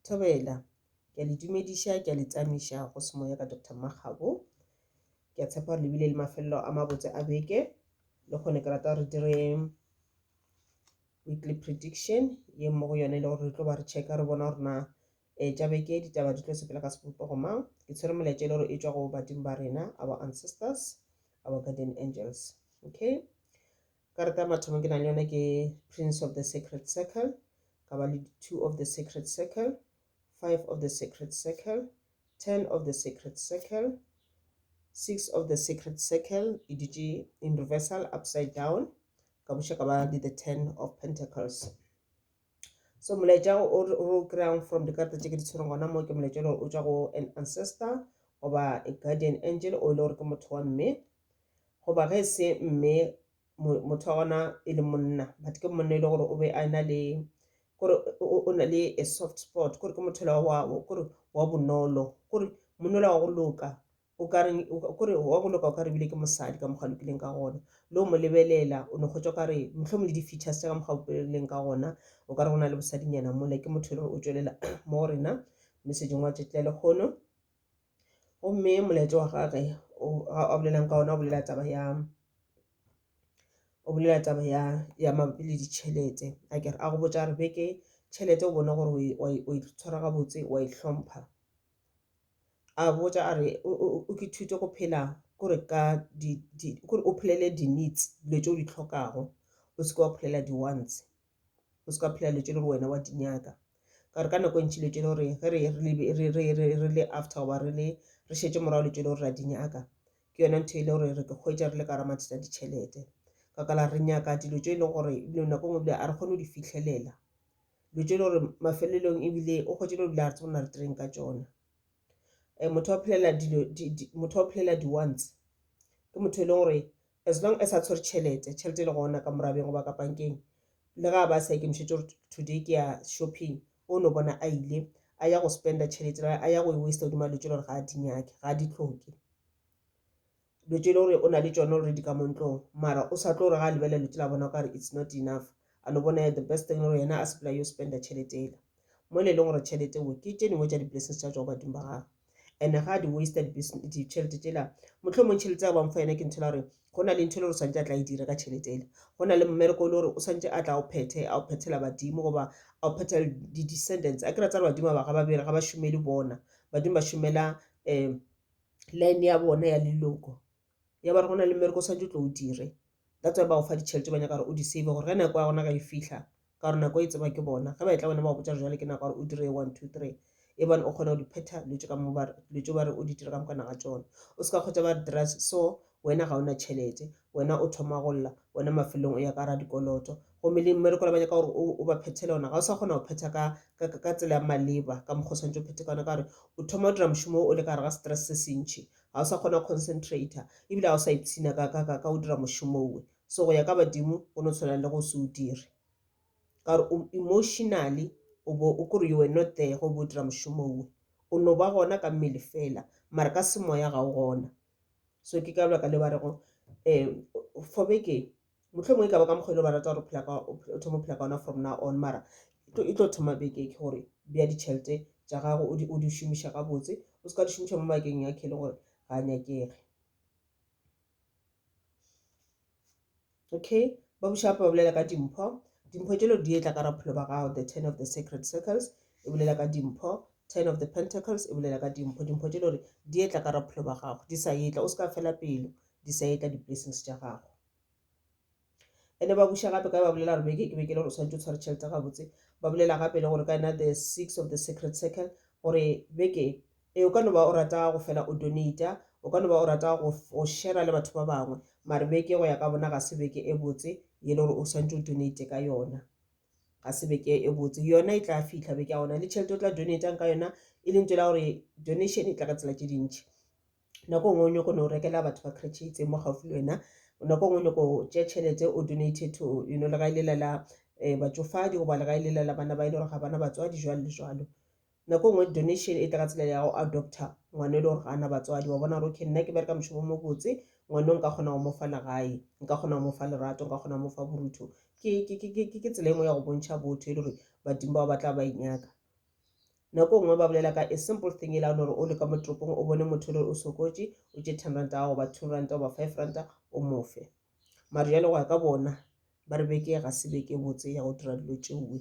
Thobela, ke a le dumediša, ke a le tsamisa go semoya ka Doctor Makgabo. Ke a tshepa gore le bile le mafelelo a mabotse a beke, le kgone ke rata re dire weekly prediction ye mo go yone e le gore re tlo ba re checka re bona gore na um tša beke ditaba di tlo sepela ka sebopego mang. Ke tshwere molaetša e le gore e tšwa go badimo ba rena, our ancestors, our guardian angels. Okay, Karata ya mathomo ke nang le yone ke Prince of the Sacred Circle, ka ba le Two of the Sacred Circle, Five of the Sacred Circle, Ten of the Sacred Circle, Six of the Sacred Circle, e dutše in reversal, upside down, ka buša ka ba le the Ten of Pentacles. so molaetša o re o kry-ang from dikarata tše ke di tshwereng gona mo ke molaetša le gore o tšwa go an ancestor goba a guardian angel o e le gore ke motho wa mme goba ge e se mme mo- motho wa gona e le monna but ke monna e le gore o be a na le kore o- o o na le a soft spot kore ke motho la wa wa- kore wa bonolo kore monna la wa go loka o ka re o ka re wa go loka o ka re bile ke mosadi ka mokgwa lokileng ka gona le o mo lebelela o no kgotsa o ka re mohlomong le di-features tša ka mokgwa o boleleng ka gona o ka re go na le bosadinyana mole ke motho e leng o tšwelela mo rena mme sejong wa tšetla le kgono gomme molaetso wa gage a bolelang ka ona o bolela taba ya o bolela taba ya ya mabapi le ditšhelete a kere a go botsa re beke tšhelete o bone gore o e tshwara gabotse wa e hlompha a botša a re o ke thute go phela kore ka di di kore o phelele di needs dilo tse o di tlhokago o seke wa phelela di wants o seke wa phelela dilo tse le gore wena wa di nyaka ka gore ka nako e ntši dilo tse le gore ge re re re re re le after goba re le re šetše morago dilo tse le gore ra di nyaka ke yona ntho e le gore re ke hwetša re le ka ra mathata a ditšhelete ka kala re nyaka dilo tse e leng gore nako nngwe bile a re kgone go di fitlhelela lo tšele gore mafelelong ebile o kgwetše lo dula re tsebona re tereng ka tšona um motho wa phelela dilo motho wa phelela di-once ke motho e leng gore as long as a tshwere tšhelete tšhelete e le gona ka morabeng goba ka pankeng le ga ba sa ikemišetse gore today ke ya shopping o no bona a ile a ya go spenda tšhelete a ya go e waste godima lo tšele gore ga a di nyake ga a di tlhoke Dilo tše e le gore o na le tšona already ka mo ntlong mara o sa tlo gore ga a lebelela dilo tše la bona o ka re it's not enough a no bona the best thing gore yena a sepela yo spenda tšhelete ela mo le e leng gore tšhelete wo ke tše dingwe tša di-blessings tša tswa go badimo ba gagwe and ga a di waste ditšhelete tšela motlho mong tšhelete ya bangfa yena ke ntho la gore go na le ntho e le gore swantse a tla e dira ka tšhelete ele go na le mmereko e le gore o swantse a tla o phethe a o phethela badimo goba a o phethela di-descendants a kry-a tsa re badimo ba ga ba bere ga ba šomele bona badimo ba šomela um line ya bona ya leloko ya ba re go na le mmereko o swanetše o tlo o dire that's why ba go fa ditšhelete ba nyaka gore o di save gore ge nako ya gona ga e fihla ka gore nako e tseba ke bona ge ba etla bona ba go botša jale ke nako ya gore o dire one two three e bane o kgona go di phetha dilo tše ka mo dilo tše ba re o di dire ka moka naga tšona o se ka kgotsa ba re dira so Wena ga o na tšhelete. Wena o thoma go lla. Wena mafelelong o ya ka radikoloto. Gomme le mmereko le banyaka gore o, o ba phethele ona, ga o sa kgona go phetha ka, ka, ka, ka tsela ya maleba, ka mokgwa o swanetše o phethe ka ona, ka gore o thoma go dira mošomo wo o le ka gare ga stress se sentši. Ga o sa kgona go concentrator, ebile ga o sa ipshina ka, ka, ka, ka go dira mošomo wo. So go ya ka badimo go no tshwana le go se o dire. Ka gore o, emotionally o bo o, ke gore you were not there ge o bo o dira mošomo wo. O no ba gona ka mmele feela, mara ka semoya ga o gona. so ke ka lebaka le ba rego um for beke mohlomongwe ka ba ka mokgwa e le ba rata gore phela ka o thoma phela ka ona from now on mara e tlo thoma beke ke gore bja ditšhelete tša gago o di o di šomiša gabotse o se ka di šomiša mo bakeng ya khele gore ga nyakege okay ba buša gape ba bolela ka dimpho dimpho tšelo di etla ka raphelo ba gago the ten of the sacred circles e bolela ka dimpho ten of the pentacles e bolela ka dimpho dimpho tšelo gore di etla ka raphelo ba gago di sa etla o se ka fela pelo di sa etla di-blessings tša gago ene ba buša gape ka ba bolela gore beke ke beke le gore o tshwanetse o tshware tšhelete gabotse ba bolela gape le gore ka ena the six of the sacred circle gore beke Ee, o ka no ba o rata go fela o donata, o ka no ba o rata go, go shera le batho ba bangwe, mare beke go ya ka bona ga se beke e botse ye le gore o swantše o donate ka yona. Ga se beke e botse. Yona e tla fihla beke ya gona, le tšhelete o tla donatang ka yona e le ntho la gore donation e tla ka tsela tše dintši. Nako nngwe o nyoko no rekela batho ba kretšhe itseng mo gaufi le wena, nako nngwe o nyoko tšea tšhelete o donate to you know legae lela la um batšofadi goba legae lela la bana ba e le gore ga bana batswadi jwalo le jwalo. Nako nngwe donation e tla ka tsela ya go adopter ngwana e le gore ga a na batswadi. Wa bona gore okay nna ke bereka mošomo o mobotse, ngwana o nka kgona go mo fa legae, nka kgona go mo fa lerato, nka kgona go mo fa borutho. Ke, ke, ke, ke, ke tsela e nngwe ya go bontšha botho e le gore badimo bao ba tla ba e nyaka. Nako nngwe ba bolela ka a simple thing e lane gore o le ka mo toropong o bone motho e le gore o sokotše, o tše ten ranta ya gago goba two ranta goba five ranta o mo fe. Mare bjale go ya ka bona ba re beke e ga se beke e botse ya go dira dilo tšeoe.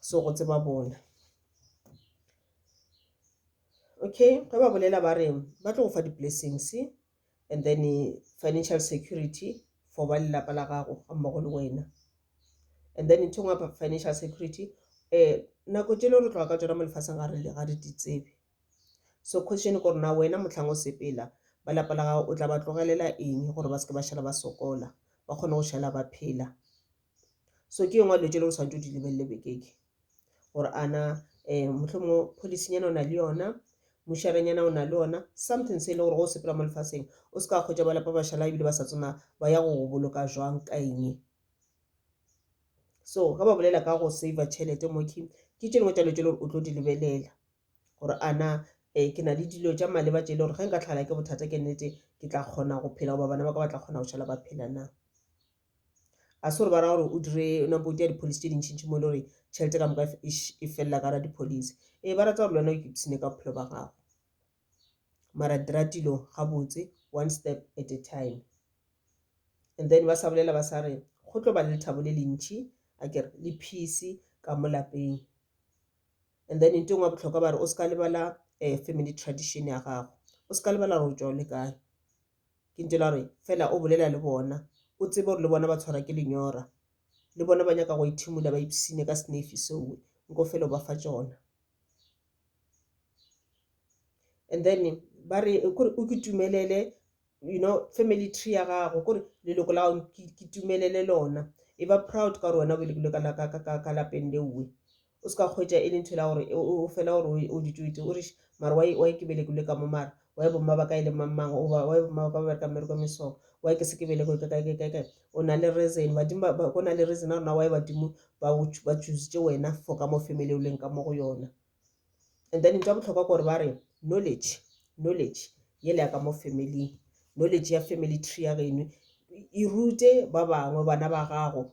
so go tseba bona okay ge ba bolela ba re ba tlo go fa di-blessings and then financial security for ba lelapa la gago ga mmogo le wena and then ntho ngwe financial security um nako tšele re tloga ka tsona mo lefaseng ga re di tsebe so question ko rena wena motlhang o sepela ba lapa la gago o tla ba tlogelela eng gore ba seke ba šala ba sokola ba kgone go šala ba phela so ke yengwe dilo tse leng swanetše o di lebelele bekeke gore ana um motlho mongwe policynyana o na le yona mošarenyana o na le yona something se e le gore go o sepela mo lefaseng o se ka kgwetsa ba lapa bašala ebile ba sa tsena ba ya go boloka jwang ka eng so ga ba bolela ka go saver tšhelete mo ke ke tše dingwe tša dilo tse le gore o tlo di lebelela gore ana um ke na le dilo tša maleba tše e le gore ge nka tlhagelwa ke bothata ke nnete ke tla kgona go phela goba bana ba ka ba tla kgona go šala ba phela na. a se gore ba ra gore o dire ona bo ja dipholisi tše dintšhintši mo e le gore tšhelete ka moka e felela ka ra dipholisi ee ba rata gore le wena o kipsine ka bophelo ba gago mara dira tilo gabotse one step at a time and then ba sa bolela ba sa re go tlo ba le lethabo le lentšhi a kere le peace ka mo lapeng and then ntho e ngwe botlhokwa ba re o se ka lebala um family tradition ya gago o se ka lebala gore o tšwa o le kae Ke ntše la re, Fela o bolela le bona. O tsebe gore le bona ba tshwarwa ke lenyora. Le bona ba nyaka go ethimola ba ipshine ka senefi sowe. Nko fela o ba fa tšona. And then ba re, kore o ke tumelele, you know, family tree ya gago, kore leloko la gago ke tumelele lona. E ba proud ka gore wena o belegilwe ka lapeng lewe. O se ka hwetša e le ntho la gore o fela gore o ditoite o riše mara wa e ke belekilwe ka mo mara wa e bomma ba ka e le mangmang oba wa e bomma ba ka ba bereka mmereko mesong wa e ke se ke belekwe ka kae kae kae o na le reason badimo ba go na le reason a rona wa e badimo ba go ba choositse wena for ka mo family o leng ka mo go yona and then ntwa botlhokwa gore ba re knowledge knowledge ye le ya ka mo family knowledge ya family tree ya geno e rute ba bangwe bana ba gago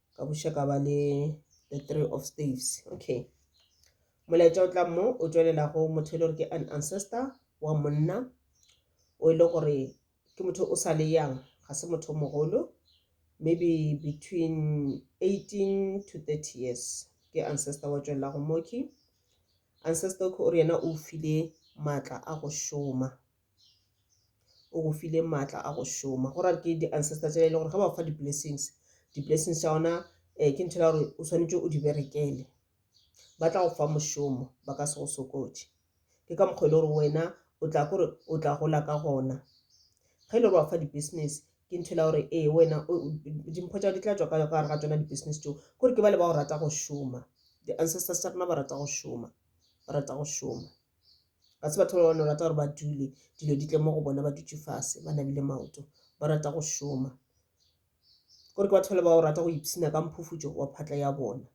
ka buša ka ba le the three of staves okay molaetša o tla mo o tšwelela go motho e le gore ke an ancestor wa monna o e le gore ke motho o sa le yang ga se motho mogolo maybe between 18 to 30 years ke ancestor wa tšwelela go moki ancestor o re yena o file maatla a go šoma o go file maatla a go šoma go rare ke di-ancestor tša e le gore ge ba fa di-blessings di-blessings tša ona um eh, ke ntho ya gore o tshwanetse o di berekele ba tla go fa mošomo ba ka se go sokotše ke ka mokgwa e le gore wena o tla kore o tla gola ka gona ge e le gore wa fa di-business ke ntho e la gore ee wena dimpho tšao di tla tswa ka gare ga tsona di-business tšeo kore ke ba le ba go rata go šoma di-ancestors tša rona ba rata go šoma ba rata go šoma ga se batho ba bano rata gore ba dule dilo di tle mo go bona ba dutse fase ba nabile maoto ba rata go šoma gore ke batho ba le ba o rata go ipsina ka mphufutšo wa phatla ya bona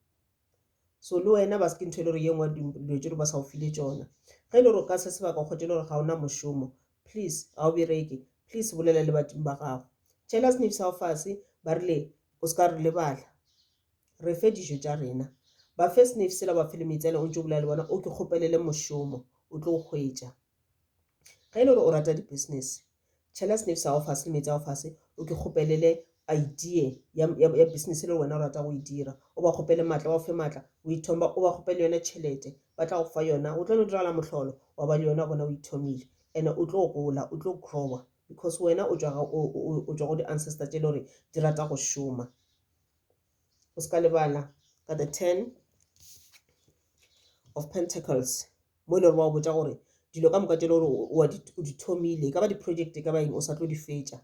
so le wena ba seke ntho e le gore ye nngwe dilo tse di ba sa o file tsona ge e le gore o ka se sebaka o kgotse le gore ga ona mošomo please ga o bereke please bolela le badimo ba gago jealous nifsa o fase ba rile o se ka re lebala Re fe dijo tša rena. Ba fe sneif sela, ba fe le metsele, o ntšo bolela le bona, o ke kgopelele mošomo, o tlo o hwetša. Ge e le gore o rata di-business, tšhela sneif sa gago fase le meetse a gago fase, o ke kgopelele idea ya, ya, ya business e le wena o rata go e dira. O ba kgopele matla, ba o fe matla, o ithomba, o ba kgopele yona tšhelete, ba tla go fa yona. Go tlo no diragala mohlolo, wa ba le yona gona o ithomile. And-e o tlo gola, o tlo grower because wena o tšwa ga, o, o, o tšwa go di-ancestor tše le gore di rata go šoma. o se ka lebala ka the ten of pentacles mo e le gore ba o botsa gore dilo ka moka tse le gore o di thomile e ka ba di-project e ka ba eng o sa tlo di fetša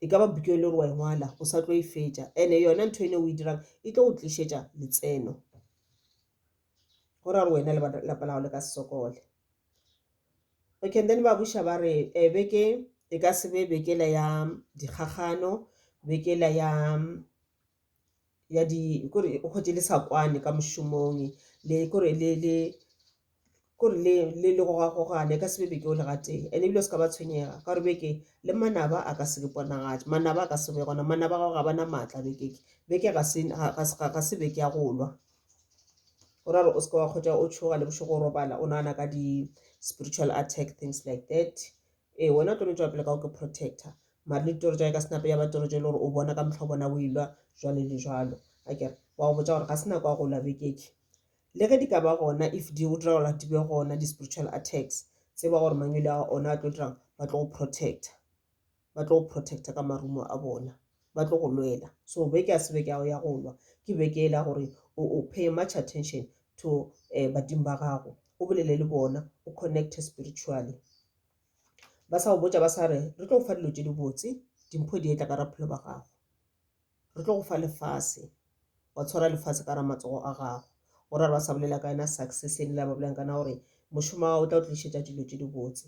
e ka ba buke e le gore wa engwala o sa tlo e fetša and-e yona ntho ene o e dirang e tlo go tlišetša letseno go ra gore wena lapa lago le ka sokole Okay and then ba buša ba re beke e ka se be beke le ya dikgakgano, beke le ya ya di kore o hwetše le sa kwane ka mošomong le kore le le kore le le le gogagogane e ka se be beke o le gatee. And-e ebile o seka ba tshwenyega ka gore beke le manaba a ka se le ponagatše, manaba a ka se be gona, manaba a gago ga ba na maatla beke e, beke ga se ga se beke ya go lwa. go ra re o seke wa kgotsa o tshoga le bošego o robala o nagana ka di-spiritual attack things like that ee wena o tlo no tswa pele ka go ke protector mare le ditoro tsa ka senape ya batoro tse e le gore o bona ka motlho bona o ilwa jwale le jwalo a kere wa go botsa gore ga se nako ya go lwa bekeke le ge di ka ba gona if di go dira gore di be gona di-spiritual attacks tse ba gore mangwele a ona a tlo dirang ba tlo go protector ba tlo go protecta ka marumo a bona ba tlo go lwela so beke ya sebeke ao ya go lwa ke beke e la gore o pay much attention to um eh, badimo ba gago o bolele le bona o connecte spiritually ba sa go botsa ba sa re re tlo go fa dilo tse di botse dimpho di etla ka raphelo ba gago re tlo go fa lefase wa tshwara lefase ka ra matsogo a gago o ra re ba sa bolela ka yena success e le la ba bolelang kana gore mošomo wa o tla o tlišetša dilo tše di botse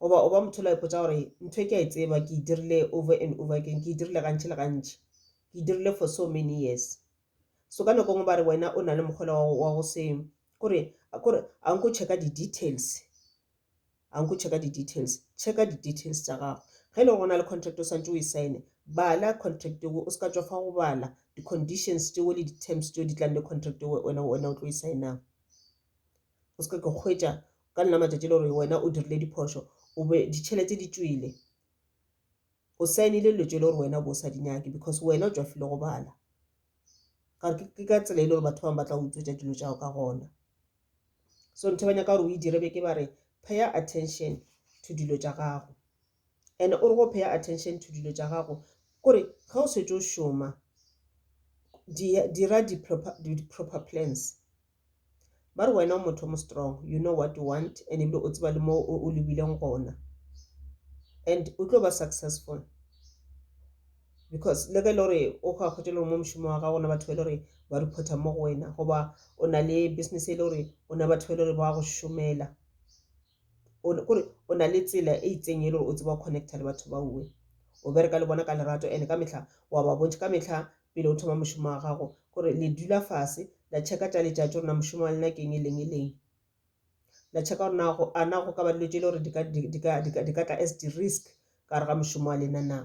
goba o ba motho la ipotsa gore ntho e ke a e tseba ke e dirile over and over again ke e dirile gantši le gantši ke e dirile for so many years so ka nako ngwe ba re wena o na le mokgola wa go se kore kore a nko checka di-details a nko checka di-details checka di-details tsa gago ge e le go na le contract o swantse o e sign-e bala contract eo o se ka tswa fa go bala di-conditions tseo le di-terms tseo di tlang le contract eo wena o tlo e sign-ang o seke ka kgwetša ka nna matšatši le gore wena o dirile diphošo o be ditšhelete di tswile o saenile dilo tšele gore wena o bo o sa di nyake because wena o tswafile go bala ke ka tsela e le gore batho bangwe ba tla utswetsa dilo tšao ka gona so ntho ba nyaka gore o e dire be ke ba re pay attention to dilo tša gago and o re go pay attention to dilo tša gago kore ge o setse o šoma dira di proper, di proper plans ba re wena o motho mo strong you know what you want and ebile o tseba le mo o lebileng gona and o tlo ba successful because le ge e le gore o go akgotse le gore mo mošomo wa gago na batho ba e le gore ba reporta mo go wena goba o na le business e le gore o na batho ba e le gore ba go šomela kore o na le tsela e itseng e le gore o tseba go connecta le batho ba uwe o bereka le bona ka lerato ene ka metlha wa ba bontšha ka metlha pele o thoma mošomo wa gago gore le dula fase la checka tša letšatši gore na mošomo wa lena keng e leng e leng la checka gore nago a nago ka ba dilo tše e le gore di ka tla as di-risk ka gare ga mošomo wa lena na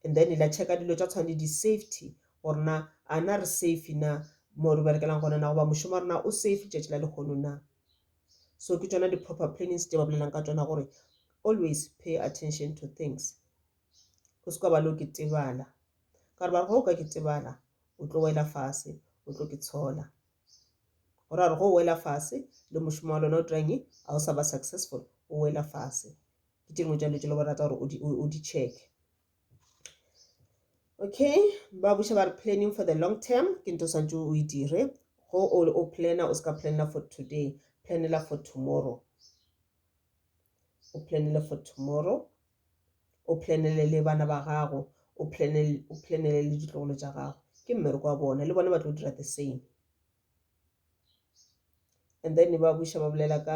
and then la checka dilo tša tshwane le di-safety gore na a na re safe na mo re berekelang gona na goba mošomo wa rena o safe tšatši la lehono na so ke tšona di-proper plannings tše ba bolelang ka tšona gore always pay attention to things o se ka ba le o ke tebala ka gore ba re go o ka ke tebala o tlo wela fase o tlo ke tshola gore a re go o wela fase le mošomo wa lona o dirang e ga o sa ba successful o wela fase ke tše dingwe tša dilo tše le go rata gore o di checke Okay, ba buša ba re planning for the long term ke nto swantse o e dire go o o planner o ska planner for today planela for tomorrow o planele for tomorrow o planele le bana ba gago o planele o planele le ditlogolo tša gago ke mmereko wa bona le bona ba tlo dira the same and then ba buša ba bolela ka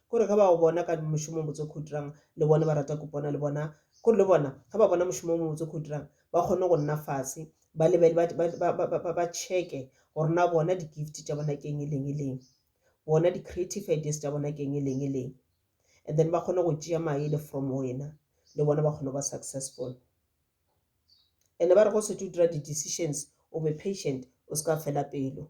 Kore ge ba go bona ka mošomo o mobotse o ke o dirang, le bone ba rata kupona le bona. Kore le bona ge ba bona mošomo o mobotse o ke o dirang, ba kgone go nna fase, ba lebel-, ba, ba, ba, ba, ba, ba, ba check-e gore na bona di-gift tša bona ke eng, e leng, e leng. Bona di-creative ideas tša bona ke eng, e leng, e leng. And then ba kgone go tšea maele from go wena, le bona ba kgone go ba successful. And-e ba re ge o šetše o dira di-decisions, o be patient, o se ka fela pelo.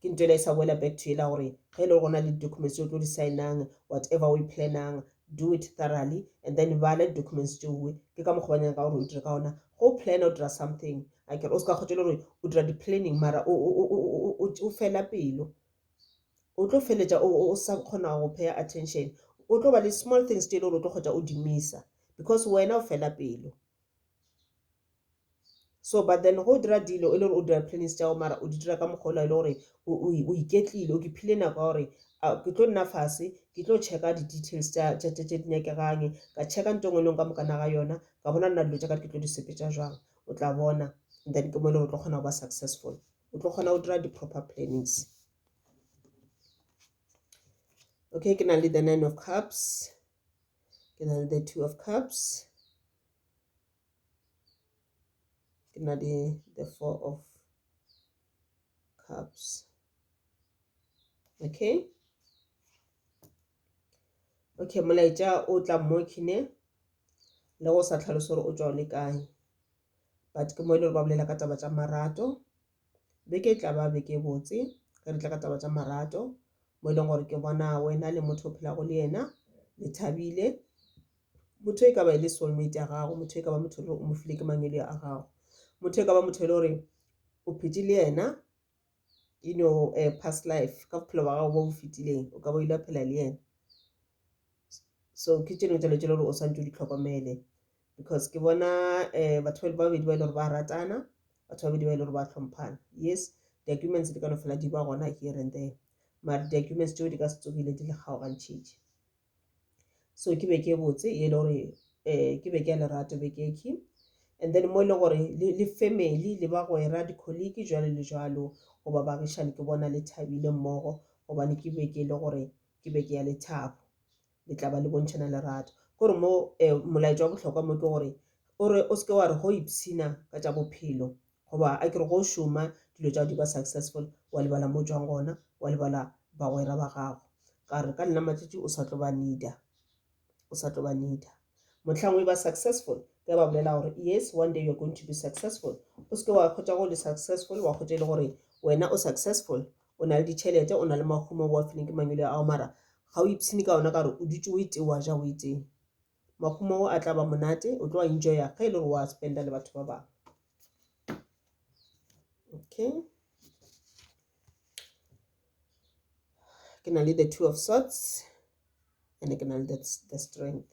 Ke nto ela e sa boela back to ela gore ge e le gore gona le documents tse o tlo di signang whatever o e planang do it thoroughly and then bala di documents tšeoe ke ka mokgwa ba nyaka gore o dire ka ona go plana o dira something a kere o se ka kgotse le gore o dira di-planning mara o fela pelo o tlo feletša o sa kgona go paya attention o tlo ba le small things tse e le gore o tlo kgotsa o di misa because wena o fela pelo so but then go dira dilo e le gore o dira plans tša gago mara o di dira ka mokgwa ola e le gore o iketlile o keepile nako ya gore ke tlo nna fase ke tlo checka di-details tša di nyakegang ka checka nto e nngwe le e nngwe ka mokana ga yona ka bona nna dilo tša ka ke tlo di sepetša jwang o tla bona and then ke mo e le gore o tlo kgona go ba successful o tlo kgona go dira di-proper plannings okay ke na le the nine of cups ke na le the two of cups ke na le the four of cups okay okay molaetša o tla mo khine le go sa tlhalosa gore o tšwa o le kae but ke mo e le gore ba bolela ka taba tša marato Beke e tla ba beke e botse ge re tla ka taba tša marato mo e leng gore ke bona wena le motho o phelago le yena le thabile motho e ka ba e le soulmate ya gago motho e ka ba motho o mo file ke mangwele a gago motho e ka ba motho e le gore o phetse le yena you know uh, past life ka bophelo ba gago bo bo fetileng o ka ba o ile phela le yena so ke tseno tšelo tšelo gore o swantse o di tlhokomele because ke bona eh, batho ba babedi ba e le gore ba ratana batho ba babedi ba e le gore ba hlomphana yes di-arguments di ka no fela di ba gona here and there mare di-arguments tšeo di ka se tsogile di le kgaogantšhitše so ke be ke botse e le gore um ke be ke ya lerato be ke ke and then mo e le gore le family le bagwera di-colleague jalo le jalo goba bagišane ke bona le thabile mmogo gobane ke be ke e le gore ke be ke ya lethabo le tla ba le bontšhana lerato gore mo um molaetša wa bohlokwa mo ke gore o re o seke wa re go ipshina ka tša bophelo goba a ke re go šoma dilo tša go di ba successful wa lebala mo tswang gona wa lebala bagwera ba gago ka re ka nna matšatši o sa tlo ba needa o sa tlo ba needa motlhang o e ba successful ke ba bolela gore yes one day you're going to be successful o seke wa kgotsa go le successful wa kgotsa e le gore wena o successful o na le ditšhelete o na le mahumo o a fileng ke mangwele ao mara ga o ipshine ka ona ka gore o dutse o ete wa ja o eteng mahumo ao a tla ba monate o tlo a enjoya ge e le gore wa spenda le batho ba bangwe okay ke na le the two of sorts and ke na le the strength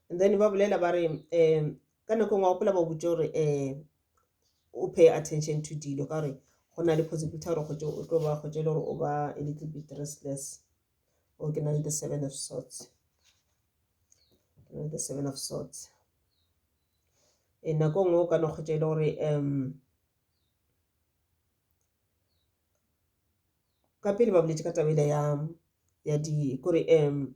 and then ba bolela ba re um ka nako engwe wa gopola ba botse gore um o pay attention to dilo ka gore go na le possibility ya gore kgotse o tlo ba kgotse e le gore o ba a little bit restless o ke na le the seven of swords ke na le the seven of swords e nako nngwe o ka no kgotse e le gore um ka pele ba boletse ka tabele ya ya di kore um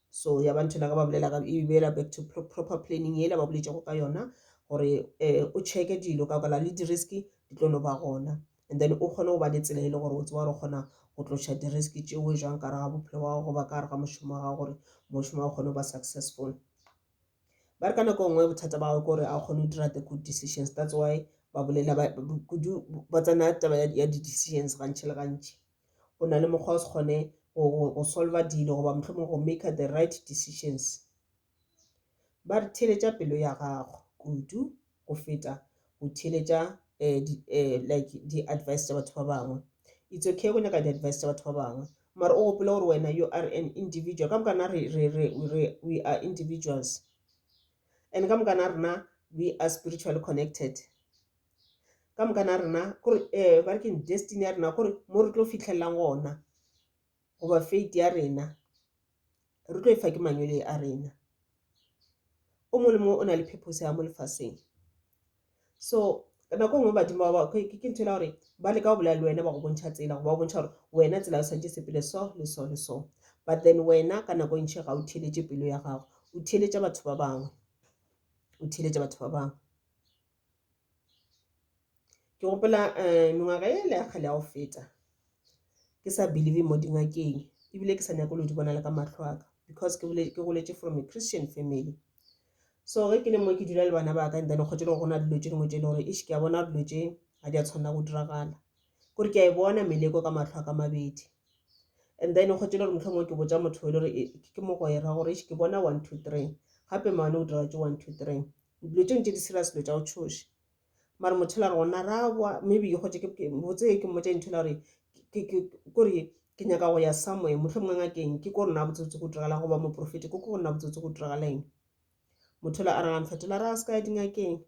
so ya ba nthela ka ba bolela ka e bela back to pro- proper planning yela ba boletšego ka yona gore eh, o checke dilo ka kala le diriski di tlo no ba gona and then o kgone go ba le tsela e le gore o tseba gore o kgona go tloša diriski tšeo jwang ka raga bophelo wa gago goba ka raga mošomo wa gago gore mošomo wa gago kgone go ba successful ba re ka nako nngwe bothata ba gago ke gore a o kgone go dira the good decisions that's why ba bolela ba- ba- kudu ba tsena taba ya- ya di-decisions gantši le gantši o na le mokgwa o se kgone go solva dilo goba mohlomong go maker the right decisions ba re theletša pelo ya gago kudu go feta go theletša eh, di, eh, like di-advice tša batho ba bangwe it's okay go nyaka di-advice tša batho ba bangwe mara o gopole gore wena you are an individual ka mokana re, re, re, re, we are individuals and ka mokana rena we are spiritually connected ka moka na rena kore um ba re keng destiny ya rena kore mo re tlo fitlhelelang gona goba fate ya rena re tlo e fa ke mangwele a rena o mongwe le mongwe o na le purpose ya mo lefaseng so nako e nngwe badimo ba ke ntho e la gore ba leka go bolela le wena ba go bontšha tsela go ba bontšha gore wena tsela o santse sepele so le so le so but then wena ka nako e ntšhi ga o theletše pelo ya gago o theletša batho ba bangwe o theletša batho ba bangwe Ke gopola mengwaga e le ya kgale ya go feta ke sa believe mo dingakeng ebile ke sa nyako le di bona le ka mahlo aka because ke goletše from a Christian family. So ge ke le mo ke dula le bana ba ka and then kgotše le go gona dilo tše dingwe tše e le gore eish ke a bona dilo tše ga di a tshwanela go diragala. Kore ke a e bona meleko ka mahlo aka mabedi and then kgotše le gore mohlomongwe ke botša motho e le gore ke mogwera gore eish ke bona one two three gape maano o dira tše one two three. dilo tše ntše di serious dilo tša go tšhoša mara motho la re gona ra bwa maybe ke gotse botse ke mmotsa ntho la gore kore ke nyaka go ya somewhere motlho mongwe ngakeng ke ko rona botsotsi go diragala goba moprofeti ko ko rona botsotsi go diragala eng motho la a ragane fetola ra se ka ya dingakeng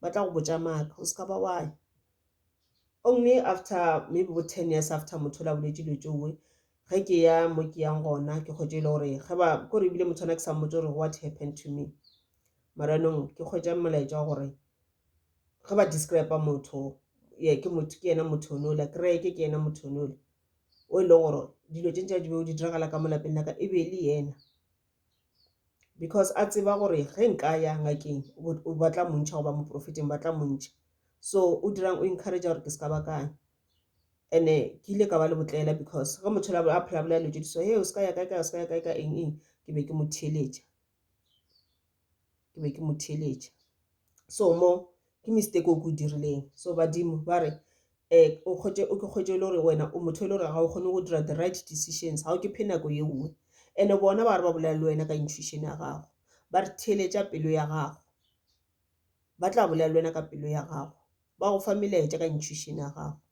ba tla go botsa maaka o se ka ba waya only after maybe bo ten years after motho la boletse dilo tsoe ge ke ya mo ke yang gona ke kgotse e le gore ge ba kore ebile motho ana ke sa mmotse gore what happened to me maranong ke kgwetša molaetša wa gore ge ba describe motho ye ke motho ke yena motho o nola kereke ke yena motho o nola o e leng gore dilo tše ntša di be o di diragala ka mo lapeng laka e be e le yena because a tseba gore ge nka ya ngakeng o batla montšha goba moprofeteng ba tla montšha so o dirang o encourage gore ke se ka ba kae ene ke ile ka ba le botlela because ge motho a phela bolela dilo tse di so he o se ka ya kae kae o se ka ya kae ka eng eng ke be ke mo theeletša ke be ke mo theeletša so mo ke mistake o ko dirileng so badimo ba re um o kgwetše o ke kgwetše e le gore wena o motho e le gore ga o kgone go dira the right decisions ga o ke phe nako ye nngwe and-e bona ba re ba bolela le wena ka intuition ya gago ba re theeletša pelo ya gago ba tla bolela le wena ka pelo ya gago ba go fa melaetša ka intuition ya gago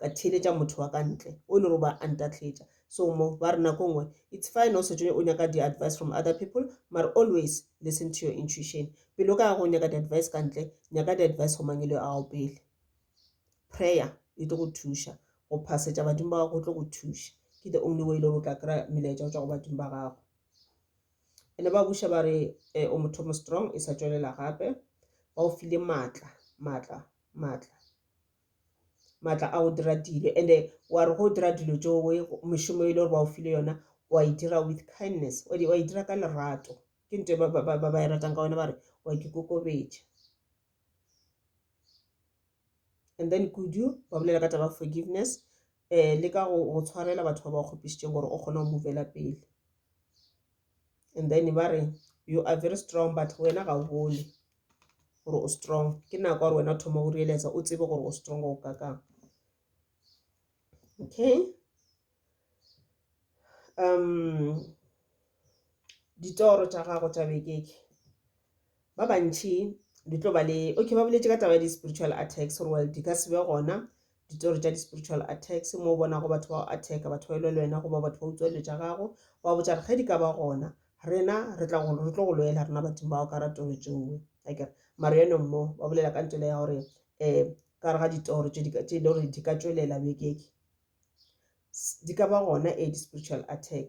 ka theeletša motho wa ka ntle o e le gore ba a ntatletša so mo ba re nako nngwe it's fine o setšo o nyaka di-advice from other people mare always listen to your intuition pele o ka ya go nyaka di-advice ka ntle nyaka di-advice go mangelo a gago pele prayer e tlo go thuša go phasetša badimo ba gago go tlo go thuša ke the only way e le gore o tla kry-a melaetša go tswa go badimo ba gago ene ba buša ba re eh, o motho mo strong e sa tswelela gape ba o file maatla maatla maatla maatla a go dira dilo and-e wa re go dira dilo tso we mešomo e le gore ba o file yona wa e dira with kindness wa e dira ka lerato ke nto ba e ratang ka wena ba re wa ke kokobetša and then kudu ba bolela ka taba forgiveness um le ka go tshwarela batho ba ba kgopišitšeng gore o kgone go movela pele and then ba re you are very strong but wena ga o bone gore o strong ke nako gore wena o thoma go reeletsa o tsebe gore o strong go ka kang okay um ditoro tša gago tša bekeke ba bantšhi di tlo ba le okay ba boletse ka taba ya di-spiritual attacks gore well di ka se be gona ditori tša di-spiritual attacks mo o bonago batho ba go attacka batho ba e lwe le wena goba batho ba utswa dilo tša gago wa botša re ge di ka ba gona rena re tla go re tlo go lwela rena batho bao ka ratoro tšoe a kere maro yone mmo ba bolela ka ntole ya gore um ka re ga ditoro tše e le gore di ka tšwelela bekeke di ka ba gona e di-spiritual attack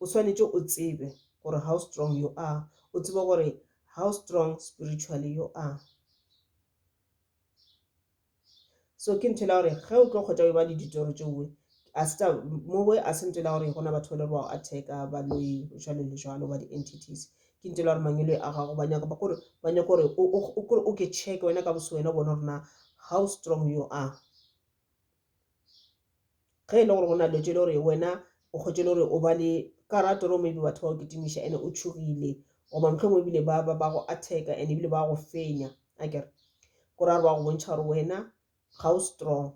o swanetše o tsebe gore how strong you are o tsebe gore how strong spiritually you are so ke nthela gore ge o tlo kgotsa o e ba le ditoro tšeoe asta mowe a se ntela gore gona batho ba le ba attack ba lo jalo le jalo ba di entities ke ntela gore mangelo a gago ba nyaka ba gore ba nyaka gore o ke check wena ka boso wena bona rena how strong you are ge e le gore go na letswe le gore wena o kgwetše le gore o ba le ka ra toro maybe batho ba go kitimiša ene o tšhogile goba mohlomong ebile ba ba ba go attack and ebile ba go fenya a kere ko ra ba go bontšha gore wena ga o strong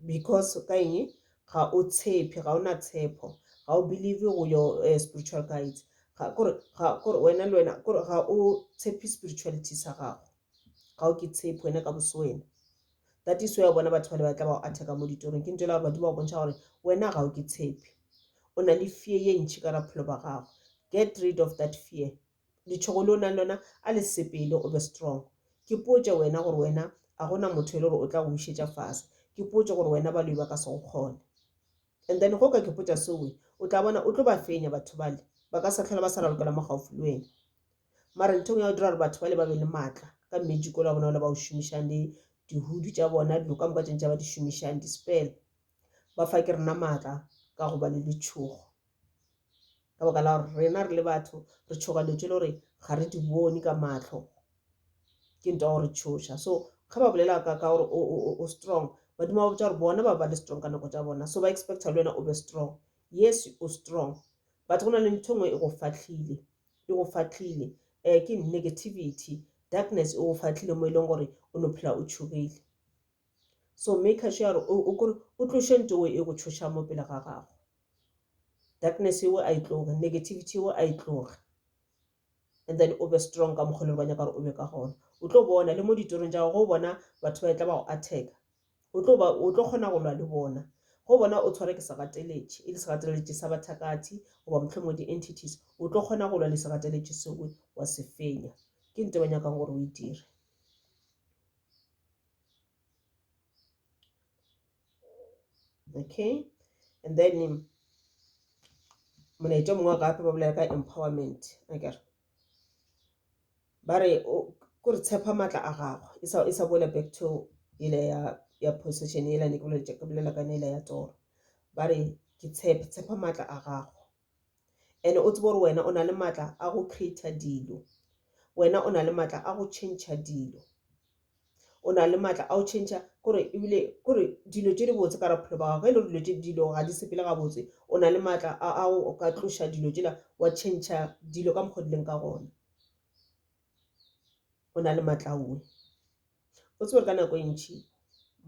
because ka eng ga o tshepe ga o na tshepo ga o believe go your uh, spiritual guides kore wena le wena kore ga o tshepe spirituality sa gago ga o ke tshepo wena ka boso wena that is why bona batho bale ba tla ba o atheka mo ditorong ke ntho e la gore badimo ba bontšha gore wena ga o ke tshepe o na le fear ye ntšhi ka raphelo ba gago get rid of that fear letshogo le o nang lona a le sepele o be strong ke potše wena gore wena a gona motho e le gore o tla go bušetša fase ke potše gore wena ba loi ba ka se go kgone and then go ka ke potša sewe o tla bona o tlo ba fenya batho bale ba ka sa tlhola ba sa ralokela mo gaufi le wena mara nthong ya go dira gore batho ba le ba be le maatla ka mmejiko la bona o le ba o šomišang le dihudu tša bona dilo ka moka tšeng tša ba di šomišang dispel ba fa ke rena maatla ka go ba le letšhogo ka baka la gore rena re le batho re tšhoga dilo tse le gore ga re di bone ka matlho ke nto gore tšhoša so ge ba bolela ka ka gore o strong badimo ba botsa gore bona ba ba le strong ka nako tša bona so ba expecta le wena o be strong yes o strong but go na le ntho e nngwe e go fatlhile e go fahlile um ke negativity darkness e go fahlile mo e leng gore o no phela o tšhogile so maker sure gore o kore o tloše nto e go tšhoša mo pele ga gago darkness eo a e tloge negativity eo a e tloge and then o be strong ka mokgwa le ba nyaka gore o be ka gona o tlo bona le mo ditorong tša go bona batho ba e tla ba go attack O tlo ba, o tlo kgona go lwa le bona. Go bona o tshware ke segateletši, e le segateletši sa bathakathi, goba mohlomongwe di-entities, o tlo kgona go lwa le segateletši seo, wa se fenya. Ke nto ba nyakang gore o e dire. Okay? And then, molaetša o mongwe wa gape ba bolela ka empowerment, akere? ba re ko re tshepa maatla a gagwe e sa e sa boela back to ele ya ya possession ela ne ke bolela ke bolela ka nela ya tsoro ba re ke tshepe tshepa maatla a gago and o tsebe gore wena o na le maatla a go creator dilo wena o na le maatla a go change dilo o na le maatla a o tšhentšha kore ebile kore dilo tše di botse ka raphelo ba gago e le gore dilo tše dilo ga di sepele ga botse o na le maatla a o ka tloša dilo tšela wa tšhentšha dilo ka mokgwa dileng ka gona o na le maatla a uwe o tsebore ka nako e ntšhi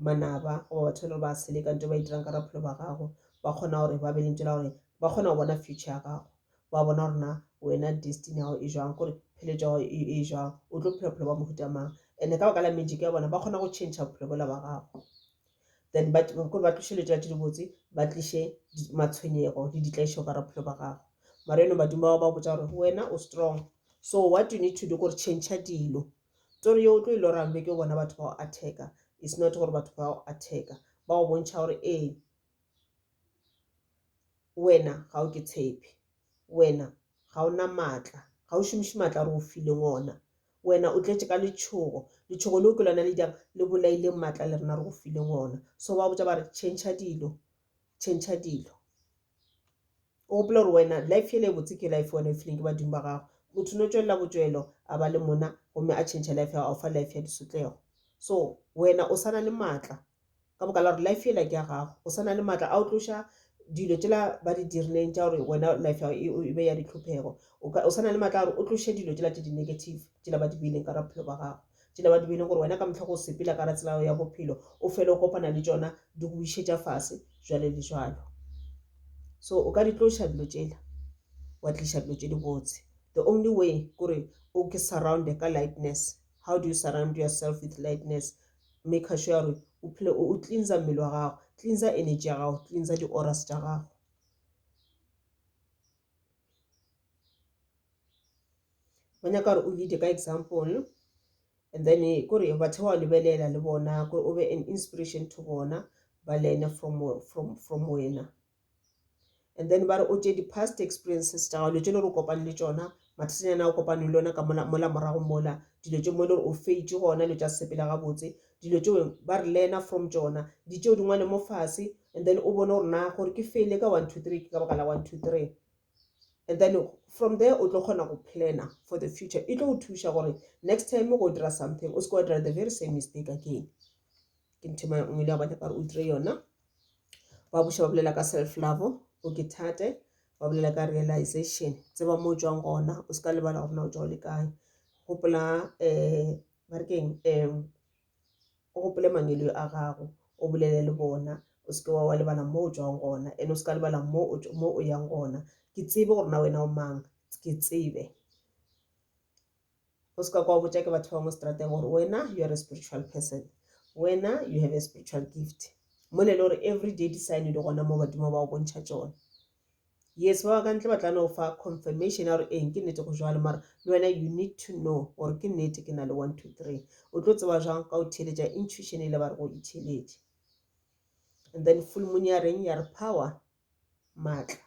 manaba goba batho e le gore ba seleka nto ba e dirang ka raphelo ba gago ba kgona gore ba be lentso la gore ba kgona go bona future ya gago wa bona gore na wena destiny ya gago e jwang gore pheletšo ya gago e, e jwang o tlo phela bophelo ba mohuta mang and-e ka baka la magic ya bona ba kgona go change bophelo bola ba gago then kore ba tliše letšela tse dibotse ba tliše matshwenyego le ditlaišo ka bophelo ba gago mara eno badimo bao ba botsa gore wena o strong so what you need to do kore change dilo tsore yo o tlo e lorang beke o bona batho ba go attacker is not gore batho ba go attacker ba go bontšha gore ee wena ga o ke tshepe wena ga o na maatla ga o šomiše maatla gore o fileng ona wena o tletše ka letšhogo letšhogo leo ke lona le jang le bolaileng maatla le rena re go fileng ona so ba botsa ba re change dilo change dilo o gopola gore wena life ele e botse ke life wena e fileng ke badimo ba gago motho no tswelela botswelo a ba le mona gomme a change life ya gago fa life ya disotlego so wena o sana le maatla ka boka la gore life yela ke ya gago o sa na le maatla a o tloša dilo tšela ba di dirileng tša gore wena life ya e be ya ditlhophego o sa na le maatla a gore o tloše dilo tšela tše di-negative tšela ba di beileng ka ra bophelo ba gago tšela ba di beileng gore wena ka motlha go sepela ka ra tsela ya bophelo o fele o kopana le tšona di go išetša fase jwale le jwalo so o ka di tloša dilo tšela wa tliša dilo tše di botse the only way kore o ke surrounde ka lightness how do you surround yourself with lightness maker sure ya gore o phele o cleansa mmele wa gago cleansa energy ya gago cleansa di-oras tša gago ba nyaka gore o leade ka example and then eh, kore batho ba lebelela le bona kore o be an inspiration to bona ba learne from, from, from wena and then ba re o tše di-past experiences tša gago dilo tše le gore o kopane le tšona mathatanyana a o kopane le one ka mola mola morago mola dilo tše mo e le gore o feitše gona dilo tša sepela gabotse dilo tšeo ba re learner from tšona di tšeo dingwale mo fase and then o bone gore na gore ke fele ka one two three ke ka baka la one two three and then from there o tlo kgona go planner for the future e tlo go thuša gore next time go dira something o se ke wa dira the very same mistake again ke nthema nngwe le ya bone ka gore o dire yona ba buša ba bolela ka self love o ke thate ba bolela ka realization tseba mo o tswang gona o se ka lebala gore na o tswa o le kae gopola um ba re keng um o gopole mangweleo a gago o bolele le bona o seke wa wa lebala mo o tswang gona and o se ka lebala mo o tsw- mo o yang gona ke tsebe gore na wena o mang ke tsebe o se ka kwa botša ke batho ba mo strateng gore wena you are a spiritual person wena you have a spiritual gift mo ne le gore every day di sign di gona mo badimo ba o bontšha tsone yes ba ba ka ntle ba tla no fa confirmation ya gore eng ke nnete go jalo mara le wena you need to know gore ke nnete ke na le one two three o tlo tseba jang ka o theeletša intuition e le ba re go itheeletše and then full moon ya reng ya re power maatla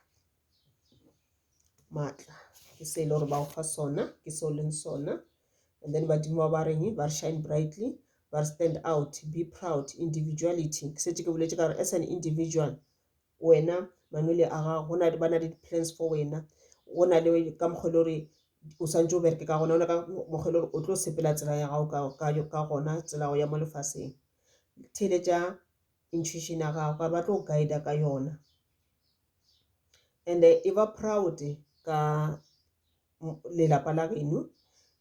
maatla ke se e le gore ba go fa sona ke se o leng sona and then badimo ba ba reng ba re shine brightly ba re stand out be proud individuality ke setse ke boletse ka gore as an individual wena manwele a gago go na le ba na le di-plans for wena go na le ka mokgwa e le gore o santse o bereke ka gona ona ka mokgwa e le gore o tlo sepela tsela ya gago ka gona tsela ya mo lefaseng theletša intuition ya gago gore ba tlo go guide ka yona and e ba proud ka lelapa la geno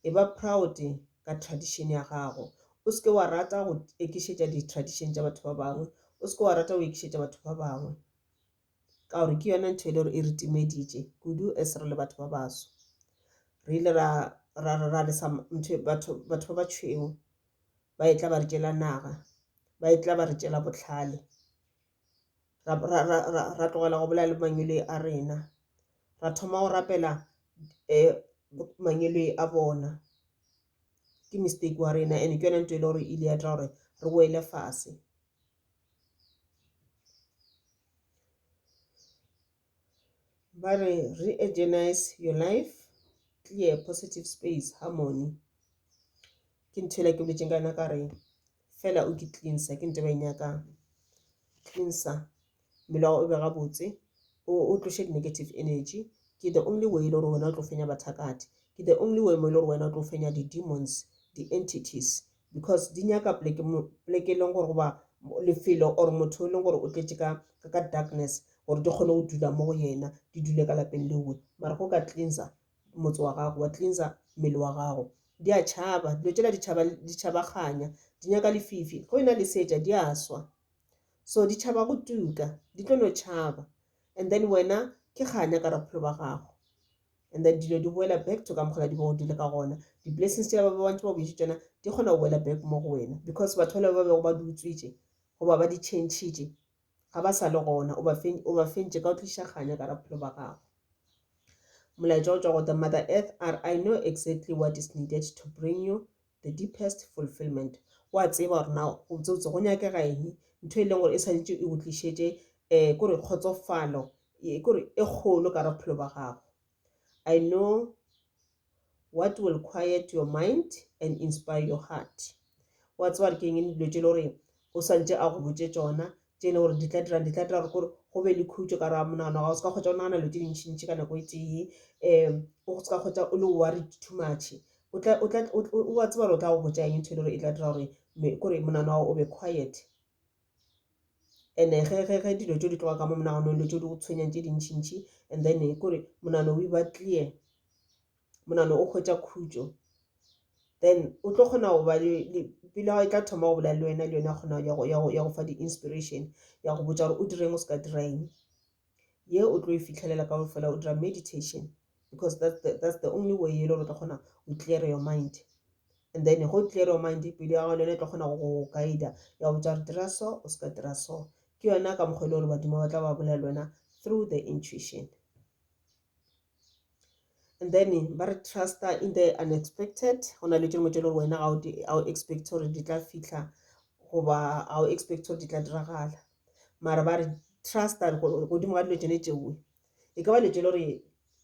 e ba proud ka tradition ya gago o seke wa rata go ekišetša di-tradition tša batho ba bangwe o seke wa rata go ekišetša batho ba bangwe ka gore ke yona ntho e le gore e re timeditše kudu as re le batho ba baso re ile ra ra ra lesa ntho batho batho ba ba tšhweu ba e tla ba re tšela naga ba e tla ba re tšela bohlale ra, ra, ra, ra, ra tlogela go bolela le mangwele a rena ra thoma go rapela um mangwele a bona ke mistake wa rena and ke yone nto e le gore e ile ya dira gore re boele fase Ba re Re-Egenize Your Life, Clear Positive Space, Harmony. Ke ntho ela ke boletseng ka yona ka re fela o ke cleanser ke nto ba e nyakang. Cleanser mmele wa gago o be gabotse o o tloshe di-negative energy ke the only way e le gore wena o tlo fenya bathakati ke the only way mo e le gore wena o tlo fenya di-demons di-entities because di nyaka pleke e leng gore goba lefelo or motho e leng gore o tletše ka ka darkness gore di kgone go dula mo go yena di dule ka lapeng lewe mara go ka cleansa motse wa gago wa cleansa mmele wa gago di a tšhaba dilo tšela di tšhabaganya di nyaka lefifi go ena le setša di a swa so di tšhaba go tuka di tlo no tšhaba and then wena ke kganya ka raphelo ba gago and then dilo di boela back to ka mokgona di bego di le ka gona di-blessings tša ba ba bantši ba boetse tšona di kgona go boela back mo go wena because batho bale ba bego ba di utswitše goba ba di changitše ga ba sa le gona o ba fentše ka o tliša kganya ka raphelo ba gago molaetša o tswa go the mother earth are i know exactly what is needed to bring you the deepest fulfillment wa tseba gore na botsebotse go nyakega eng ntho e leng gore e tshwanetse e go tlišetše um kore kgotsofalo e, kore e kgolo ka re bophelo ba gago i know what will quiet your mind and inspire your heart wa tseba re ke eng dilo tše le gore o swantše a go botse tsona tše e le gore di tla dirang di tla dira gore kore go be le khutšo ka ra monagano wa gago o se ka kgwetsa o nagana dilo tse dintšhintšhi ka nako e tee um o se ka kgwetsa o le worried too much o tla o tla o wa tseba gore o tla go botsa eng ntho e le gore e tla dira gore kore monagano wa gago o be quiet and ge ge ge dilo tse di tloga ka mo monaganong dilo tse di go tshwenyang tse dintšhintšhi and then kore monagano o e ba clear monano o hwetša khutšo then o tlo kgona go ba pelo ya e tla thoma go bolela le wena le yone ya kgona ya go fa di-inspiration ya go botša gore o direng o se ka direng ye o tlo e fitlhelela ka fela o dira meditation because that's the, that's the only way e le gore o tla kgona go clear your mind and then go clear your mind pelo ya gago le yone e tla kgona go go guida ya go botša gore dira so o se ka dira so ke yona ka mokgwa e le gore badimo ba tla ba bolela le wena through the intuition and then ba re truster in the unexpected go na le dingwe tse le gore wena ga o expect gore di tla fitlha goba ga o expect gore di tla diragala mara ba re trusta godimo ga dilo tsone tšewe e ka ba dilo tse le gore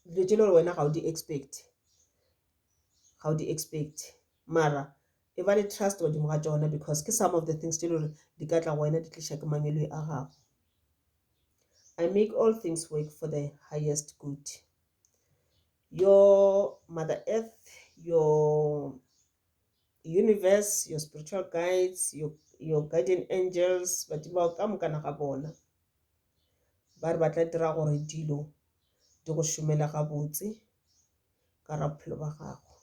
dilo tse le gore wena ga o di expect ga o di expect mara e ba le trust godimo ga tsona because ke some of the things tse le gore di ka tla go wena di tliša ke mangwele a gago I make all things work for the highest good. Your Mother Earth, your universe, your spiritual guides, your, your guardian angels, badimo bao ka mokana ga bona ba re ba tla dira gore dilo di go šomele gabotse ka ra bophelo ba gago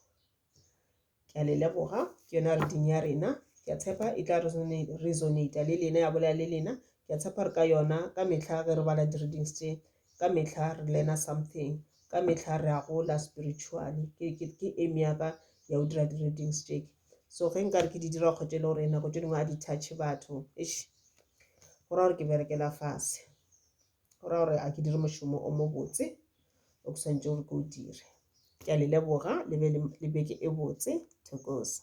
ke a le leboga ke yona reading ya rena ke a tshepa e tla resonata le lena ya bolela le lena ke a tshepa re ka yona ka mehla ge re bala di-readings tše ka mehla re learna something ka mehla re a gola spiritually ke aim ya ka ya go dira di-readings tše so ge nkare ke di dira kgotse e le gore nako tše dingwe a di touch batho go ra gore ke berekela fase go ra gore a ke dire mošomo o mobotse o ke swantse gore ke o dire ke a le leboga le be le beke e botse thokoza